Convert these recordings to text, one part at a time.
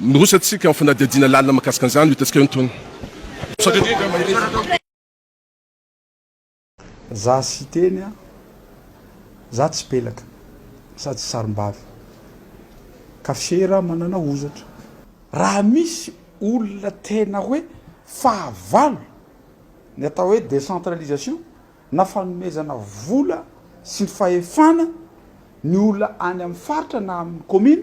Miroso antsika amin'ny fanadihadiana lalina mahakasika an'izany, ho hitantsika eo ny tohiny. Za Siteny a, za tsy pelaka sady tsy sarimbavy ka fiera manana hozatra. Raha misy olona tena hoe fahavalo ny atao hoe décentralisation na fanomezana vola sy fahefana ny olona any amin'ny faritra na amin'ny commune,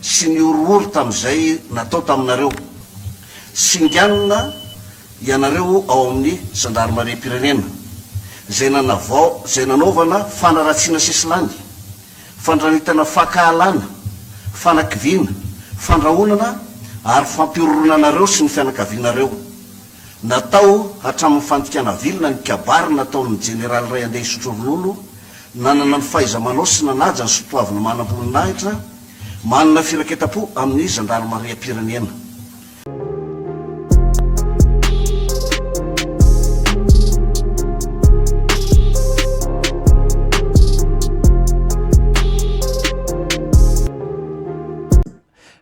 sy ny horohoro tamin'izay natao taminareo. Singanina ianareo ao amin'ny zandarimariam-pirenena, izay nanavao, izay nanaovana fanaratsiana sesilany, fandranitana fankahalana, fanakiviana, fandrahonana ary fampihorohoroana anareo sy ny fianakavianareo. Natao hatramin'ny fandikana vilona ny kabary nataon'ny jeneraly iray andeha hisotro ronono Nanana ny fahaiza-manao sy nanaja ny soatoavina manam-boninahitra, manana firaketam-po amin'ny zandarimariam-pirenena.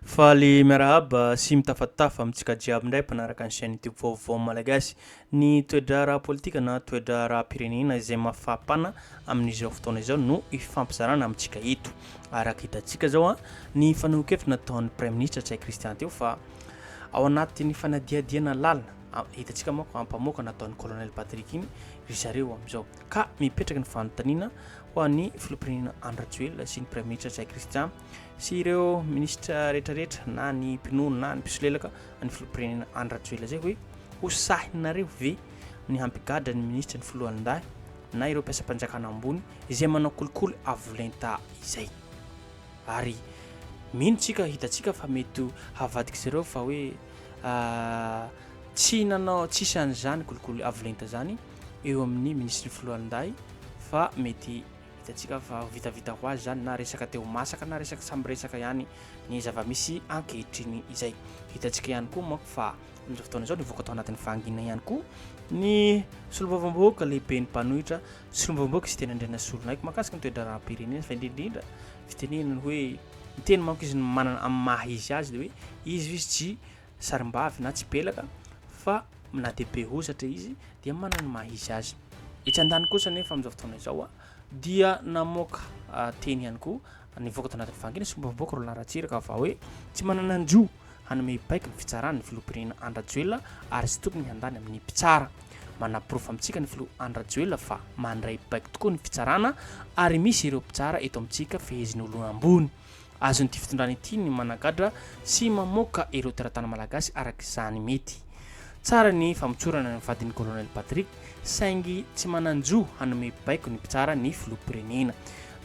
Faly miarahaba sy mitafatafa amintsika jiaby indray mpanaraka ny chaîne YouTube Vaovao Malagasy. Ny toe-draharaha ara-politika na toe-draharaham-pirenena izay mafapana amin'izao fotoana izao no ifampizarana amintsika eto. Araka hitantsika izao, ny fanehoan-kevitra nataon'ny Praiminisitra Ntsay Christian teo fa ao anatin'ny fanadihadihana lalina, hitantsika manko ampamoaka nataon'ny Colonel Patrick iny ry zareo amin'izao. Ka mipetraka ny fanontaniana ho an'ny Filoham-pirenena Andry Rajoelina sy ny Praiminisitra Ntsay Christian sy ireo minisitra rehetrarehetra na ny mpinono na ny mpisolelaka ny filopirenena any rajoela zay hoe ho sahinareo ve ny hampigadra ny minisitra ny filohandahy na ireo mpiasam-panjakana ambony izay manao kolikoly avolenta izay ary mino tsika hitatsika fa mety ho havadika zareo fa hoe ah, tsy nanao tsisy an'izany kolikoly avolenta zany eo amin'ny minisitry ny filohandahy fa mety Hitantsika fa ho vitavita ho azy izany na resaka te ho masaka na resaka samy resaka ihany ny zava-misy ankehitriny izay. Hitantsika ihany koa manko fa amin'izao fotoana izao nivoaka tao anatin'ny fahangina ihany koa ny solombavambahoaka lehiben'ny mpanohitra solombavambahoaka Siteny Andrianasolonaiky mahakasika ny toe-draharaham-pirenena fa indrindrindra fitenenany hoe ny teny manko izy ny manana amin'ny maha izy azy dia hoe izy izy tsy sarimbavy na tsipelaka fa na dia be hozatra izy dia manana ny maha izy azy. Etsy an-daniny kosa anefa amin'izao fotoana izao dia namoaka teny ihany koa nivoaka tao anatin'ny fahangina sy fombam-bahoaka Roland Ratsiraka fa hoe tsy manana ny roa hanome baiko ny fitsarana ny filoham-pirenena Andry Rajoelina ary tsy tokony handany amin'ny mpitsara. Manaporofo amintsika ny filoha Andry Rajoelina fa mandray baiko tokoa ny fitsarana ary misy ireo mpitsara eto amintsika fehezin'olona ambony. Azon'ity fitondrana ity ny managadra sy mamoaka ireo teratany malagasy araka izany mety. Tsara ny famotsorana ny vadin'i Colonel Patrick saingy tsy manan-jo hanome baiko ny mpitsara ny filoham-pirenena.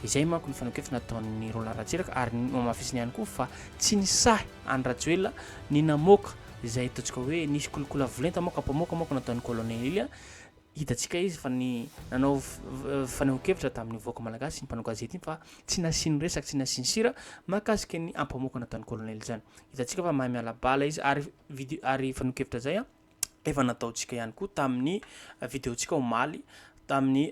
Izay manko ny fanekefana ataon'i Roland Ratsiraka ary nohamafisiny ihany koa fa tsy nisahy an'i Rajoelina ny namoaka izay ataontsika hoe nisy kolikola volenta moka-pamoaka moka nataon'i Colonel Hitantsika izy fa ny nanao fanehoan-kevitra tamin'ny vahoaka malagasy iny mpanao gazety iny fa tsy nasiany resaka, tsy nasiany sira mahakasika ny ampamoko nataon'ny kolonely izany. Hitantsika fa mahay miala bala izy ary video ary fanehoan-kevitra izay efa nataontsika ihany koa tamin'ny videontsika omaly tamin'ny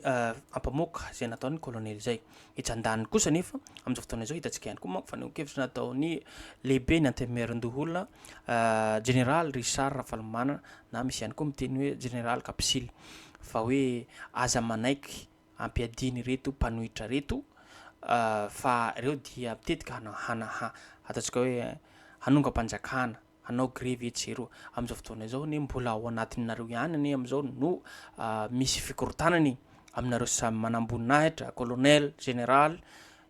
ampamoko izay nataon'ny kolonely izay. Etsy andaniny kosa anefa, amin'izao fotoana izao, hitantsika ihany koa manko fa nihoan-kevitra nataon'ny lehiben'ny Antenimierandoholona, Jeneraly Richard Ravalomanana, na misy ihany koa miteny hoe Jeneraly Kapisily, fa hoe aza manaiky ampiadiana ireto mpanohitra ireto fa ireo dia mitetika hana, hana, ataontsika hoe hanongam-panjakana. hanao grevy etsy sy eroa. Amin'izao fotoana izao anie mbola ao anatinareo ihany anie amin'izao no misy fikorontanana e! Aminareo samy manamboninahitra, colonel, general,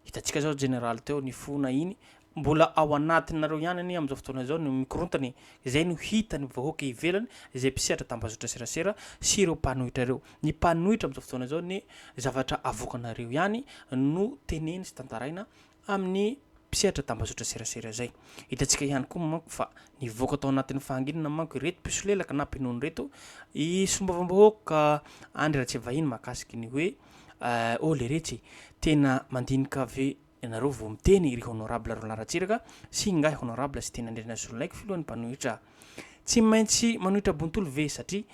hitantsika izao general teo nifona iny, mbola ao anatinareo ihany anie amin'izao fotoana izao no mikorontana e! Izay no hitan'ny vahoaka ivelany, izay mpisehatra tambazotra serasera sy ireo mpanohitra ireo. Ny mpanohitra amin'izao fotoana izao anie zavatra avoakanareo ihany no teneny sy tantaraina amin'ny mpisehatra tambazotra serasera izay. Hitantsika ihany koa manko fa nivoaka tao anatin'ny fahanginana manko ireto mpisolelaka na mpinono ireto i solombavambahoaka Andry Ratsiavahiny mahakasika ny hoe oh leretsy tena mandinika ve ianareo vao miteny ry honorable Roland Ratsiraka sy ingahy honorable Siteny Andrianazololaiko filohan'ny mpanohitra tsy maintsy manohitra bontolo ve satria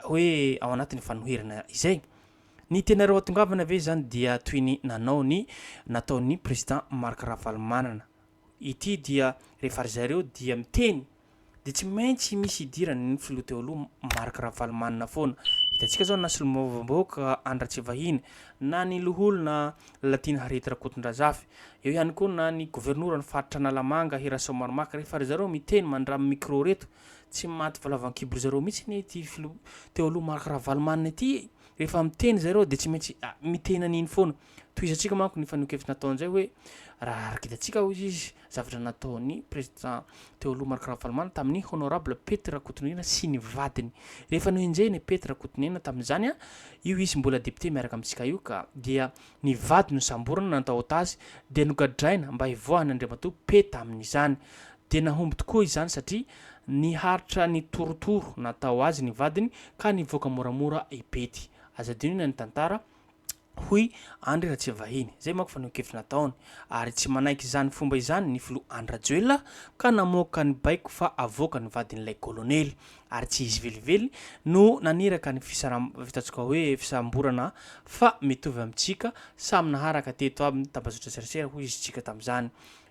hoe ao anatin'ny fanoherana izay. Ny teninareo hatongavana ve izany dia toy ny nanao ny nataon'ny Président Marc Ravalomanana. Ity dia rehefa ry zareo dia miteny dia tsy maintsy misy idirany ny Filoha teo aloha Marc Ravalomanana foana. Hitantsika izao na Solombavambahoaka Andry Ratsivahiny, na ny Loholona Lalatiana Harriet Rakotondrazafy, eo ihany koa na ny Governoran'ny Faritra Analamanga Hirasoa Maromaka rehefa ry zareo miteny mandramy micro ireto Tsy maty valavankibon-dry zareo mihitsy anie ity filoha teo aloha Marc Ravalomanana ity e! Rehefa miteny izay ireo dia tsy maintsy miteny an'iny foana. Tohizantsika manko ny fanehoan-kevitra nataony izay hoe raha ara-gitantsika hoy izy zavatra nataon'ny président teo aloha Marc Ravalomanana tamin'ny honorable Pety Rakotonirina sy ny vadiny. Rehefa nohenjehina i Pety Rakotonirina tamin'izany an, io izy mbola député miaraka amintsika io ka, dia ny vady nosamborina natahotazy dia nogadraina mba hivoahan'Andriamatoa Pety amin'izany. Dia nahomby tokoa izany satria niharitra nitorotoro natao azy ny vadiny ka nivoaka moramora i Betty. Aza adino ny anitantara, hoy Andry Ratsiavahiny, izay manko fanehoan-kevitra nataony. Ary tsy manaiky izany fomba izany ny filoha Andry Rajoelina ka namoaka ny baiko fa havoaka ny vadin'ilay kolonely. Ary tsy izy velively no naniraka ny fisaram, ataontsika hoe fisamborana fa mitovy amintsika, samy naharaka teto aby ny tambajotra serasera, hoy izy tsika tamin'izany.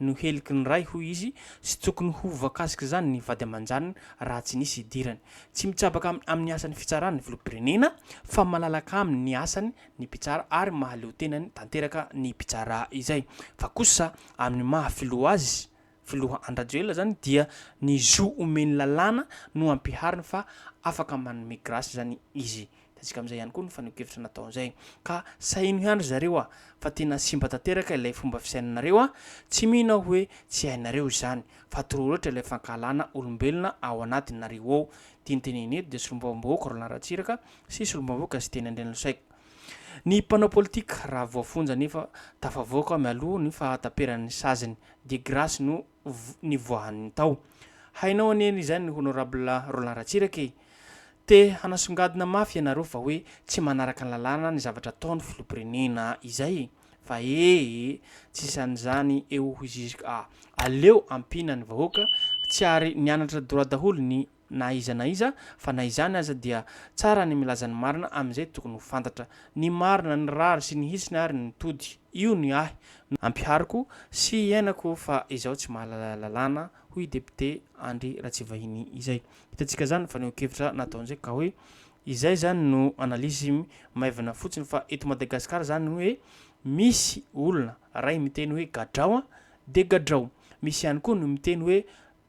no heliky ny ray hoy izy sy tsy tokony ho voakasik'izany ny vady aman-janany raha tsy nisy idirany. Tsy mitsabaka amin'ny asan'ny fitsarana ny filoham-pirenena fa malalaka aminy ny asany ny mpitsara ary mahaleo tenany tanteraka ny mpitsara izay. Fa kosa amin'ny maha filoha azy, filoha Andry Rajoelina izany dia ny zo omeny lalàna no ampihariny fa afaka manome grâce izany izy Hitantsika amin'izay ihany koa ny fanehoan-kevitra natao izay. Ka saheno ihany ry zareo a! fa tena simba tanteraka ilay fomba fisainanareo a! tsy mino aho hoe tsy hainareo izany, fa trop loatra ilay fankahalana olombelona ao anatinareo ao. Ity notenenina eto dia solombavambahoaka Roland Ratsiraka sy solombavambahoaka Siteny Andrianlosaiko. Ny mpanao politika raha voafonja nefa tafavoaka mialoha ny fahataperan'ny saziny dia grâce no nivoahany tao. Hainao anie ny izany Honorable Roland Ratsiraka e! Te hanasongadina mafy ianareo fa hoe tsy manaraka ny lalàna ny zavatra ataony Filoham-pirenena izay e! Fa ee e! Tsy hisy an'izany eo hoy Zizika a! Aleo ampiana ny vahoaka, tsy ary nianatra droit daholo ny na iza na iza, fa na izany aza dia tsara ny milaza ny marina amin'izay tokony ho fantatra, ny marina, ny rariny sy ny hitsiny ary ny tody, io ny ahy no ampihariko sy iainako fa izaho tsy mahalala lalàna, hoy i depiote Andry Ratsivahiny izay. Hitantsika izany fanehoan-kevitra nataony izay ka hoe izay izany no analyse maivana fotsiny fa eto Madagasikara izany ny hoe misy olona iray miteny hoe gadrao dia gadrao, misy ihany koa ny miteny hoe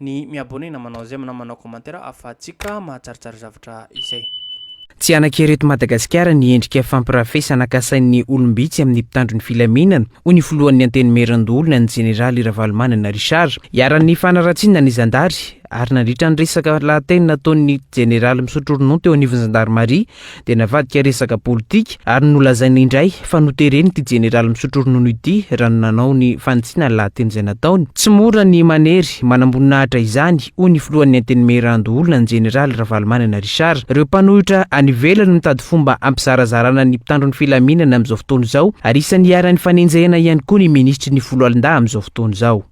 ny mi abonner na manao j'aime na manao commentaire afahantsika mahatsaritsary zavatra izay. Tsy hanankery eto Madagasikara ny endrika fampirafesana kasain'ny olom-bitsy amin'ny mpitandro ny filaminana, hoy ny filohan'ny Antenimierandoholona, ny jeneraly Ravalomanana Richard. Iharan'ny fanaratsiana ny zandary, ary nandritra ny resaka lahateny nataon'ny jeneraly misotro ronono teo anivon'ny zandarimaria, dia navadika resaka politika ary nolazaina indray fa noteren'ity jeneraly misotro ronono ity raha ny nanao ny fanitsiana ny lahateny izay nataony. Tsy mora ny manery manamboninahitra izany, hoy ny filohan'ny Antenimierandoha olona ny jeneraly Ravalomanana Richard. Ireo mpanohitra any ivelany no mitady fomba hampizarazarana ny mpitandro ny filaminana amin'izao fotoana izao ary isan'ny iharan'ny fanenjehana ihany koa ny minisitry ny foloalindahy amin'izao fotoana izao.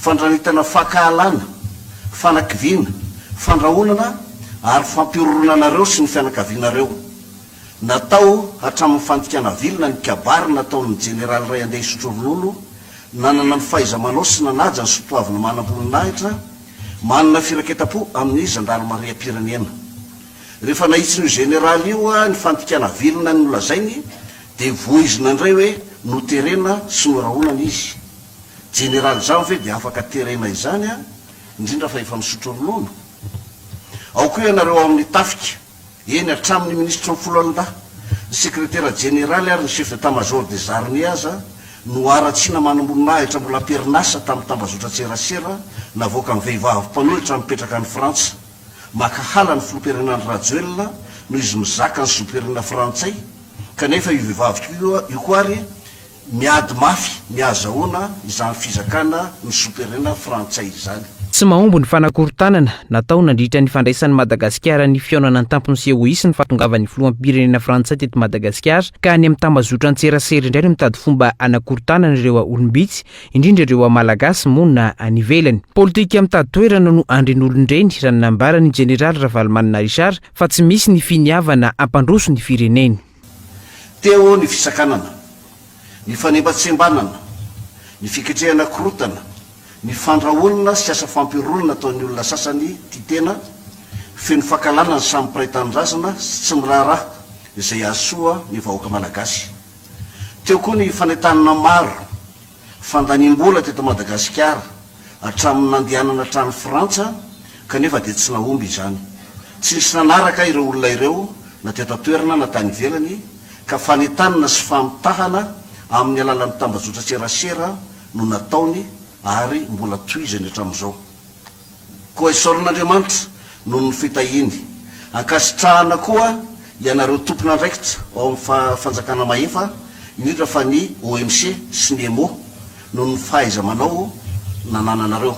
Fandranitana fankahalana, fanakiviana, fandrahonana ary fampihorohoroana anareo sy ny fianakavianareo. Natao hatramin'ny fandikana vilona ny kabary nataon'ny Jeneraly iray handeha hisotro ronono, nanana ny fahaiza-manao sy nanaja ny soatoavina manam-boninahitra, manana firaketam-po amin'ny zandarimariam-pirenena. Rehefa nahitsin'io Jeneraly io ny fandikana vilona nolazainy dia voizina indray hoe noterena sy norahonana izy. Jeneraly izaho ve dia afaka terena izany an, indrindra fa efa misotro ronono? Ao koa ianareo ao amin'ny tafika, eny hatramin'ny minisitry ny foloalindahy, ny sekretera jeneraly ary ny chef d'état major des armées aza no haratsiana manamboninahitra mbola am-perinasa tamin'ny tambazotran-tserasera navoakan'ny vehivavy mpanohitra mipetraka any Frantsa makahala ny filoham-pirenena Andry Rajoelina noho izy mizaka ny zom-pirenena frantsay kanefa io vehivavy io koa ary Miady mafy ny hahazahoana izany fizakana ny soperenina frantsay izany. Tsy mahomby ny fanakorontanana natao nandritra ny fandraisan'i Madagasikara ny fihaonana an-tampony COIS ny fahatongavan'ny filoham-pirenena frantsay teto Madagasikara ka any amin'ny tambazotran-tserasera indray no mitady fomba hanakorontanana ireo olom-bitsy indrindra ireo Malagasy monina any ivelany. Politika mitady toerana no andrin'olon-dreny raha ny nambaran'ny Jeneraly Ravalomanana Richard fa tsy misy ny finiavana hampandroso ny fireneny. Teo ny fisakanana, ny fanembatsembanana, ny fiketrehana korotana, ny fandrahonana sy asa fampiorona nataon'ny olona sasany tia tena, feno fankahalana ny samy mpiray tanindrazana sy tsy miraharaha izay hahasoa ny vahoaka malagasy. Teo koa ny fanentanana maro. Fandaniam-bola teto Madagasikara hatramin'ny nandehanana hatrany Frantsa kanefa dia tsy nahomby izany. Tsy nisy nanaraka ireo olona ireo na teto an-toerana na tany ivelany ka fanentanana sy famitahana amin'ny alalan'ny tambajotran-tserasera no nataony ary mbola tohizany hatramin'izao. Koa esorin'Andriamanitra noho ny fitahiany. Ankasitrahana koa ianareo tompon'andraikitra ao amin'ny fa fanjakana mahefa indrindra fa ny OMC sy ny EMO noho ny fahaiza-manao nanananareo.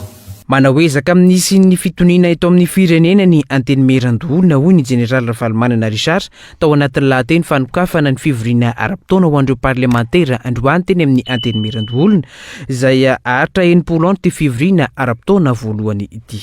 Manao ezaka amin'ny hisian'ny fitoniana eto amin'ny firenena ny Antenimierandoholona, hoy ny Jeneraly Ravalomanana Richard, Tao anatin'ny lahateny fanokafana ny fivoriana ara-potoana ho an'ireo parlemantera androany teny amin'ny Antenimierandoholona, izay haharitra enimpolo andro ity fivoriana ara-potoana voalohany ity.